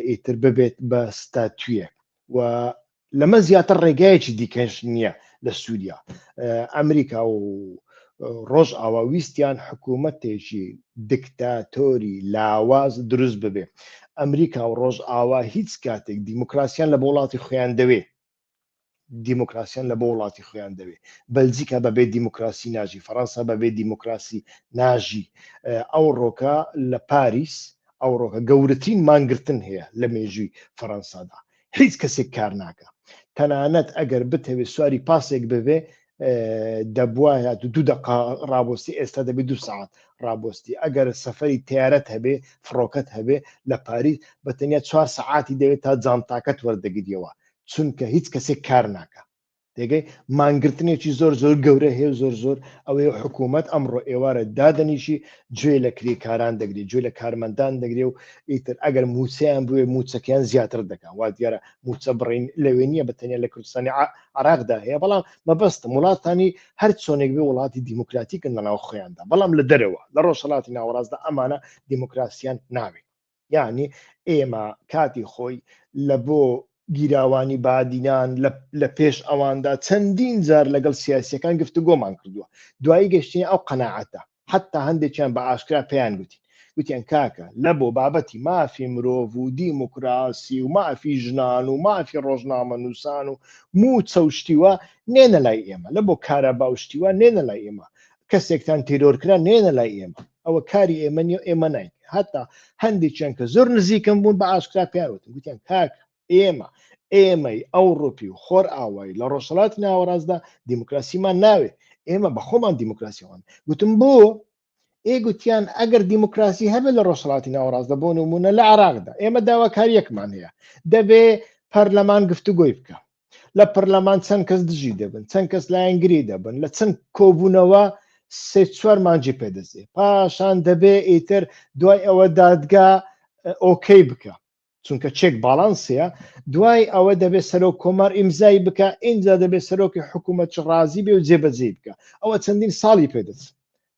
ئیتر ببێت بە ستاتویە و لەمە زیاتر ڕێگایەکی دیکەش نییە لە سووریا ئەمریکا و ڕۆژ ئاوا ویستیان حکوومەتێکی دکتاتۆری لاواز دروست ببێ ئەمریکا و ڕۆژ ئاوا هیچ کاتێک دیموکراسیان لە وڵاتی خۆیان دەوێ دیموکراسیان لە بۆ وڵاتی خۆیان دەوێ بەلجیکا بەبێ دیموکراسی ناژی فەڕەنسا بەبێ دیموکراسی ناژی ئەو ڕۆکە لە پاریس ئەو ڕۆکە گەورەترین مانگرتن هەیە لە مێژووی فەڕەنسادا هیچ کەسێک کار ناکە تەنانەت ئەگەر بتەوێت سواری پاسێک ببێ دەبواە دوو دقا ڕابستی ئێستا دەبێت دو ساعت ڕابستی ئەگەر سەفری تیارەت هەبێ فڕۆکەت هەبێ لە پاریس بە تەنیا چوار سعاتی دەوێت تا جانتاکەت وەردەگریەوە چونکە هیچ کەسێک کار ناکە تێگەی مانگرتنێکی زۆر زۆر گەورە هەیە و زۆر زۆر ئەوەی حکوومەت ئەمڕۆ ئێوارە دادەنیشی گوێ لە کرێکاران دەگری گوێ لە کارمەندان دەگرێ و ئیتر ئەگەر موچەیان بوێ موچەکەیان زیاتر دەکەن وا دیارە موچە بڕین لەوێ نییە بەتەنیا لە کوردستانی عراقدا هەیە بەڵام مەبەستم وڵاتانی هەر چۆنێک بێ وڵاتی دیموکراتیکن لەناو خۆیاندا بەڵام لە دەرەوە لە ڕۆژهڵاتی ناوەڕاستدا ئەمانە دیموکراسیان ناوێت یانی ئێمە کاتی خۆی لە بۆ گیراوانی بادینان لە پێش ئەواندا چەندین جار لەگەڵ سیاسیەکان گفتوگۆمان کردووە دوایی گەشتنی ئەو قەنەعاتە حتا هەندێکیان بە ئاشکرا پێیان گوتی گوتیان کاکە لە بۆ بابەتی مافی مرۆڤ و دیموکراسی و مافی ژنان و مافی ڕۆژنامە نووسان و موچە و شتیوە نێنە لای ئێمە لە بۆ کارەبا و شتیوە نێنە لای ئێمە کەسێکتان تیرۆرکرا نێنە لای ئێمە ئەوە کاری ئێمە نیە ئێمە نایت هەتا هەندی چەند کە زۆر نزیکم بوون بە ئاشکرا پیاوتن گوتیان کاک ئێمە ئێمەی ئەو ڕوپی و خۆر ئاوایی لە ڕۆژهڵات ناوەڕاستدا دیموکراسیمان ناوێت ئێمە بە خۆمان دیموکراسیەوەن گوتم بۆ ئێ گوتیان ئەگەر دیموکراسی هەبێت لە ڕۆژهڵاتی ناوەڕاستدا بۆ نمونە لە عراقدا ئێمە داواکاریەکمان هەیە دەبێ پەرلەمان گفتوگۆی بکە لە پەرلەمان چەند کەس دژی دەبن چەند کەس لایەنگری دەبن لە چەند کۆبوونەوە سێ چوار مانجی پێدەزێ پاشان دەبێ ئیتر دوای ئەوە دادگا ئۆکەی بکە چونکە چێک باڵانسەیە دوای ئەوە دەبێت سەرۆک کۆمار ئیمزای بکە ئینجا دەبێت سەرۆکی حکوومەت ڕازی بێ و جێبەجێ بکە ئەوە چەندین ساڵی پێدەچ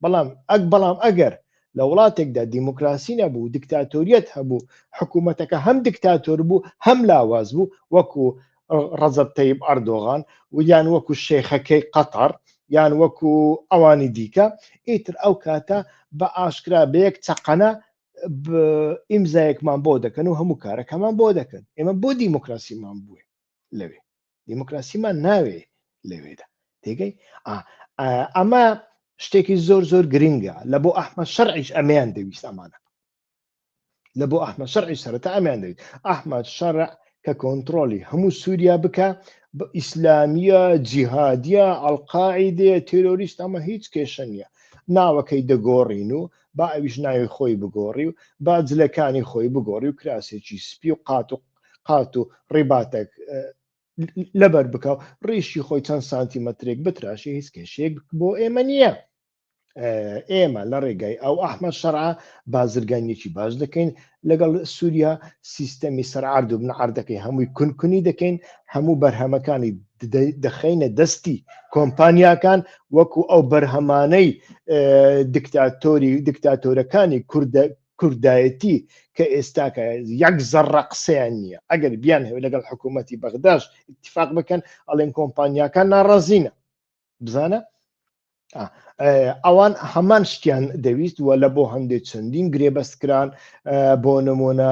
بەڵام ئەک بەڵام ئەگەر لە وڵاتێکدا دیموکراسی نەبوو دکتاتۆریەت هەبوو حکوومەتەکە هەم دکتاتۆر بوو هەم لاواز بوو وەکو ڕەزب تەیب ئەردۆغان ویان وەکو شێخەکەی قەتەر یان وەکو ئەوانی دیکە ئیتر ئەو کاتە بە ئاشکرا بەیەک چەقەنە ئیمزایەکمان بۆ دەکەن و هەموو کارەکەمان بۆ دەکەن ئێمە بۆ دیموکراسیمان بووێ لەوێ دیموکراسیمان ناوێ لەوێدا تێگەی ئەمە شتێکی زۆر زۆر گرنگە لە بۆ ئەحمە شەرعیش ئەمیان دەویست ئەمانە لە بۆ ئەحمە شەرعی سەرەتا ئەمیان دەویست ئەحمە شەرع کە کۆنتترۆلی هەموو سووریا بکە بە ئیسلامیە جیهادە ئەلقاعی دێ تیرۆریست ئەمە هیچ کێشە نییە ناوەکەی دەگۆڕین و با ئەویش ناوی خۆی بگۆڕی و با جلەکانی خۆی بگۆڕی و کراسێکی سپی و قات و قات و ڕیباتێک لەبەر بکە و ڕیشی خۆی چەند سانتیمەترێک بتراشی هیچ کێشێک بۆ ئێمە نییە ئێمە لە ڕێگای ئەو ئەحمەد شەرع بازرگانیەکی باش دەکەین لەگەڵ سووریا سیستەمی سەرعرد و بنعردەکەی هەمووی کونکونی دەکەین هەموو بەرهەمەکانی دەخینە دەستی کۆمپانیاکان وەکو ئەو بەرهەمانەی دکتاتۆری دکتاتۆرەکانی کوردە کوردایەتی کە ئێستاکە یەک زەڕە قسەیان نییە ئەگەر بیان هەوێ لەگەڵ حکوومەتی بەغداش اتفاق بکەن ئەڵێن کۆمپانیاکان ناڕازینە بزانە ئەوان هەمان شتیان دەویست و لە بۆ هەندێک چەندین گرێبەستکران بۆ نمونە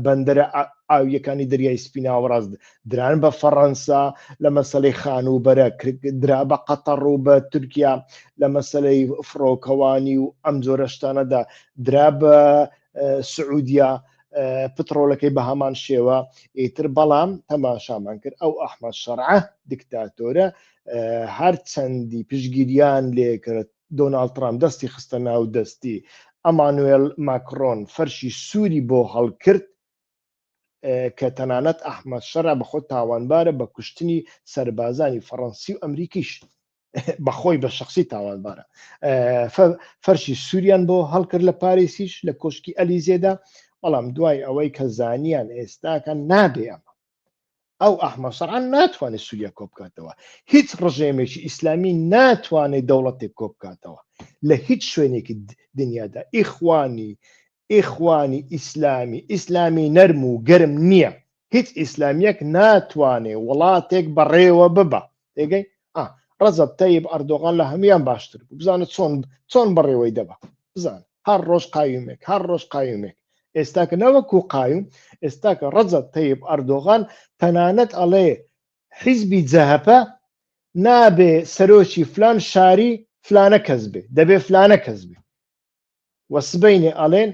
بەندەرە ئاویەکانی دەریای سپیناوەڕاست دران بە فەڕەنسا لە مەسلەی خانووبەرە درا بە قەتەڕ و بە تورکیا لە مەسلەی فڕۆکەوانی و ئەم جۆرەشتانەدا درا بە سعودیا پتڕۆلەکەی بە هەمان شێوە ئیتر بەڵام تەماشامان کرد ئەو ئەحمە شەرعە دیکتاتۆرە هەر چەندی پشگیریان لێکرد دۆناالد ترام دەستی خستە ناو دەستی ئەمانوێل ماکرۆن فەرشی سووری بۆ هەڵکرد کە تەنانەت ئەحمەد شەرع بەخۆ تاوانبارە بە کوشتنی سەربازانی فەڕەنسی و ئەمریکیش بەخۆی بە شخصی تاوانبارە فەرشی سووریان بۆ هەڵکرد لە پارێسیش لە کۆشکی ئەلیزێدا بەڵام دوای ئەوەی کە زانیان ئێستاکە نابێ ئەمە ئەو ئەحمە شەرعان ناتوانێت سووریا کۆ بکاتەوە هیچ ڕژێمێکی ئیسلامی ناتوانێت دەوڵەتێک کۆ بکاتەوە لە هیچ شوێنێکی دنیادا ئیخوانی ئیخوانی ئیسلامی ئیسلامی نەرم و گەرم نیە هیچ ئیسلامیەک ناتوانێ وڵاتێک بەڕێوە ببا تێگەی ئا ڕەزەب تەیب ئەردۆغان لە هەموان باشتر بوو بزانە چۆن چۆن بەڕێوەی دەبا بزان هەر ڕۆژ قایومێک هەر ڕۆژ قایومێک ئێستاکە نەوەکو قایم ئێستاکە ڕەزەب تەیب ئەردۆغان تەنانەت ئەڵێ حیزبی جەهەپە نابێ سەرۆکی فلان شاری فلانە کەس بێ دەبێ فلانە کەس بێ وە سبەینێ ئەڵێن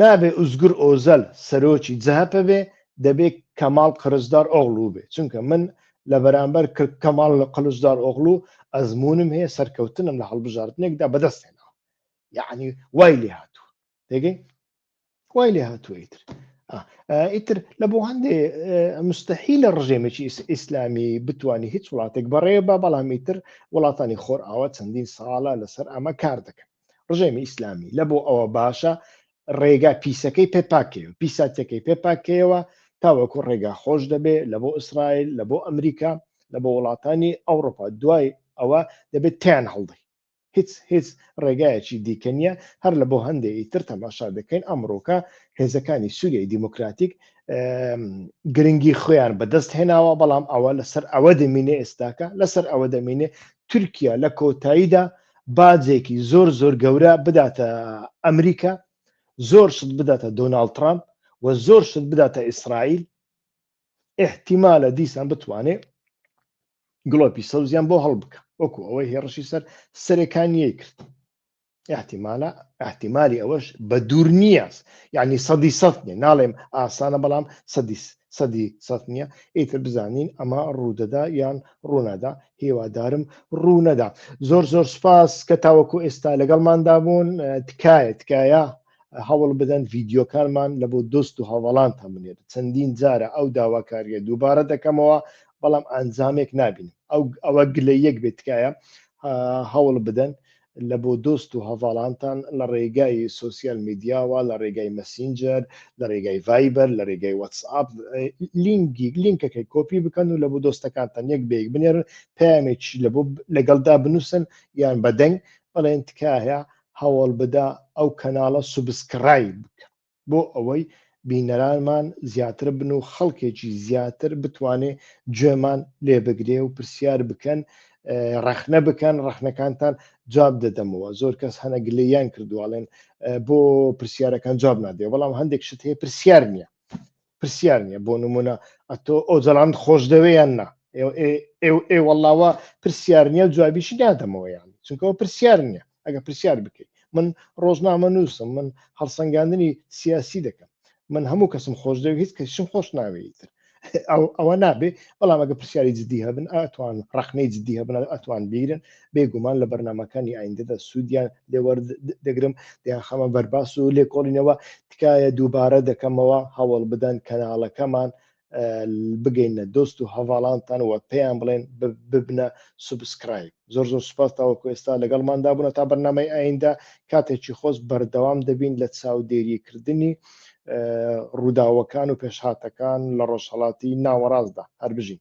نابێ ئوزگور ئۆزەل سەرۆکی جەهەپە بێ دەبێ کەماڵ قرچدار ئۆغڵو بێ چونکە من لە بەرامبەر کەماڵ لە قلچدار ئۆغڵو ئەزمونم هەیە سەرکەوتنم لە هەڵبژاردنێکدا بەدەست هێناوە یەعنی وای لێ هاتووە تێگەی وای لێ هاتووە ئیتر ئیتر لە بۆ هەندێ مستحی لە ڕژێمێکی ئیسلامی بتانی هیچ وڵاتێک بەڕێ بە بەڵام ئیتر وڵاتانی خۆر ئاوە چەندین ساڵە لەسەر ئەمە کار دەکەن ڕژێمی ئیسلامی لە بۆ ئەوە باشە ڕێگا پیسەکەی پێپاکەوە پیساتەکەی پێپاکەوە تاوەکو ڕێگا خۆش دەبێ لە بۆ ئیسرائیل لە بۆ ئەمریکا لە بۆ وڵاتانی ئەوروپا دوای ئەوە دەبێت تیان هەڵدەی هیچ هیچ ڕێگایەکی دیکە نییە هەر لە بۆ هەندێ ی تر تەماشا دەکەین ئەمڕۆکە هێزەکانی سووریای دیموکراتیک گرنگی خۆیان بەدەست هێناوە بەڵام ئەوە لەسەر ئەوە دەمینێ ئێستاکە لەسەر ئەوە دەمینێ تورکیا لە کۆتاییدا باجێکی زۆر زۆر گەورە بداتە ئەمریکا زۆر شت بداتە دۆناالد ترامپ و زۆر شت بداتە ئیسرائیل ئحتیمالە دیسان بتوانێ گڵۆپی سەوزیان بۆ هەڵبکە وەکو ئەوەی هێڕشی سەر سەرەکانیەی کرد احتیمالە احتیمالی ئەوەش بە دوور نییە یعنی سەدی سەد نیە ناڵێم ئاسانە بەڵام سەدی سەدی سەد نییە ئیتر بزانین ئەمە ڕوودەدا یان ڕوونەدا هێوادارم ڕوونەدا زۆر زۆر سپاس کە تاوەکو ئێستا لەگەڵماندا بوون تکایە تکایە هەوڵ بدەن ڤیددیوکانمان لە بۆ دۆست و هەوڵان هەمنێت چەندین جارە ئەو داواکاریە دووبارە دەکەمەوە بەڵام ئەنجامێک نابین ئەو ئەوە گلە یەک بێت تکایە هەوڵ بدەن لە بۆ دۆست و هەڤاڵانتان لە ڕێگای سوسیال میدیاوە لە ڕێگای مەسینجەر لە ڕێگای ڤایبەر لە ڕێگای وەتسئاپ لینگی لینکەکەی کۆپی بکەن و لە بۆ دۆستەکانتان یەک بێک بنێرن پامێکی لە بۆ لەگەڵدا بنووسن یان بەدەنگ بەڵێن تکایە هەوڵبدە ئەو کەناڵە سوبسکڕایب بکە بۆ ئەوەی بینەرانمان زیاتر بن و خەڵکێکی زیاتر بتوانێ گوێمان لێ بگرێ و پرسیار بکەن ڕەخنە بکەن ڕەخنەکانتان جواب دەدەمەوە زۆر کەس هەنە گلیان کردوواڵێن بۆ پرسیارەکان جواب نادێ بەڵام هەندێک شت هەیە پرسیار نییە پرسیار نییە بۆ نمونە ئەتۆ ئۆجەڵاند خۆش دەوێیان نا ئێ وەڵاوە پرسیار نییە و جوابیشی دادەمەوەیان چونکەەوە پرسیار نییە ئەگە پرسیار بکەیت من ڕۆژنامە نووسم من هەڵسەنگاندنی سیاسی دەکەم من هەموو کەسم خۆش دەوێت هیچ کەسیشم خۆش ناوێتتر ئەوە نابێ بەڵام ئەگە پرسیاری جدی هەبن ئەتوان ڕخنەی جدی هەبن ئەتوان بیرن بێ گومان لە بەرنمەکانی ئایندەدا سوودیان لێوەردەگرم دەیان خەمە بەرباس و لێکۆڵینەوە تکایە دووبارە دەکەمەوە هەوڵ بدەن کەناڵەکەمان بگەینە دۆست و هەواڵانتان وە پێیان بڵێن ببنە سوبسکرایب زۆر زۆر سوپاس تاوەکو ئێستا لەگەڵماندا بوون تا بەرنمەی ئایندە کاتێکی خۆست بەردەوام دەبین لە چاودێریکردنی ڕووداوەکان و پێشهاتەکان لە ڕۆژهڵاتی ناوەڕاستدا هەربژین